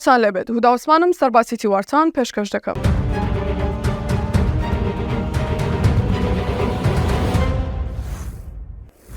تان لێبێت هودا عوسمانم سەرباسی تیوارتان پێشکەش دەکەم.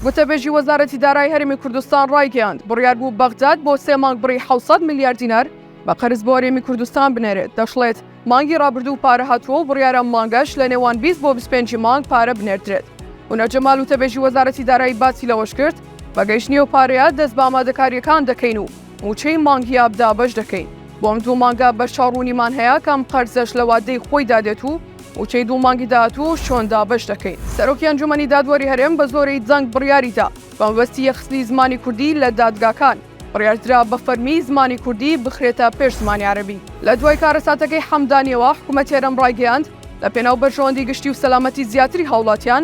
وتەبێژی وەزارەتی دارای هەرمی کوردستان ڕایگەیاند بڕیار بوو بەغداد بۆ سێ مانگ بڕی 600 میلیار دینار بە قەرز بۆ هەرێمی کوردستان بنێرێت دەشڵێت مانگی ڕابردوو پارە هاتووە و بڕیارە مانگەش لە نێوان 20 بۆ 25 مانگ پارە بنێردرێت ونەجەمال وتەبێژی وەزارەتی دارایی باسی لەوەش کرد بەگەیشتنی و پارەیە دەست بە ئامادەکاریەکان دەکەین و مووچەی مانگی ئاب دابەش دەکەین. بۆم دوو مانگە بەرچاوڕوونیمان هەیە کە ئەم قەرزەش لە وادەی خۆیدا دێت و مووچەی دوو مانگی داهاتووش چۆن دابەش دەکەین. سەرۆکی ئەنجوومەنی دادوەری هەرێم بە زۆرەی دەنگ بڕیاری دا بە مەبەستی یەخستنی زمانی کوردی لە دادگاکان، بڕیار درا بە فەرمی زمانی کوردی بخرێتە پێش زمانی عەرەبی. لە دوای کارەساتەکەی حەمدانییەوە حکوومەتی هەرێم ڕایگەیاند، لە پێناو بەرژەوەندی گشتی و سەلامەتی زیاتری هاوڵاتیان،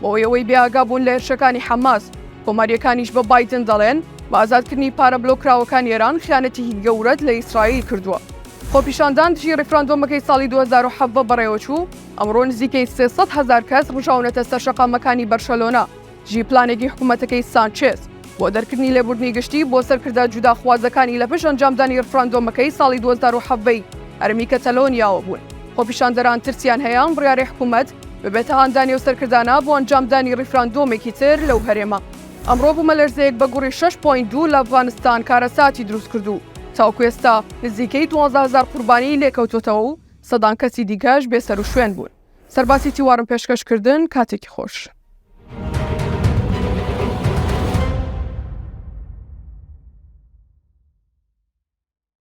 بۆ ئەوەی بێ ئاگا بوون لە هێرشەکانی حەماس، کۆمارییەکانیش بە بایدن دەڵێن، بە ئازادکردنی پارە بلۆککراوەکانی ئێران خیانەتێکی گەورەت لە ئیسرائیل کردووە. خۆپیشاندان دژی ڕیفراندۆمەکەی ساڵی دوو هەزار و حەڤدە بەڕێوەچوو، ئەمڕۆ نزیکەی سێ سەد هەزار کەس ڕژاونەتە سەر شەقامەکانی بەرشەلۆنە دژی پلانێکی حکومەتەکەی سانچێز بۆ دەرکردنی لێبوردنی گشتی بۆ سەرکردە جوداخوازەکانی لە پشت ئەنجامدانی ڕفراندۆمەکەی ساڵی دوو هەزار و حەڤدە ی هەرێمی کەتەلۆنیاوە بوون. خۆپیشاندەران ترسیان هەیە ئەم بڕیارەی حکومەت ببێتە هاندانی ئەو سەرکردانە بۆ ئەنجامدانی ڕیفراندۆمێکی تر لەو هەرێمە. ئەمڕۆ بوومەلەرزەیەک بە گوڕی 6.2 لە ئەفغانستان کارەساتی دروست کرد و تاوکو ئێستا نزیکەی دوازدە هەزار قوربانیی لێکەوتووەتەوە و سەدان کەسی دیکەش بێسەروشوێن بوون. سەرباسی تیوارم پێشکەش کردن کاتێکی خۆش.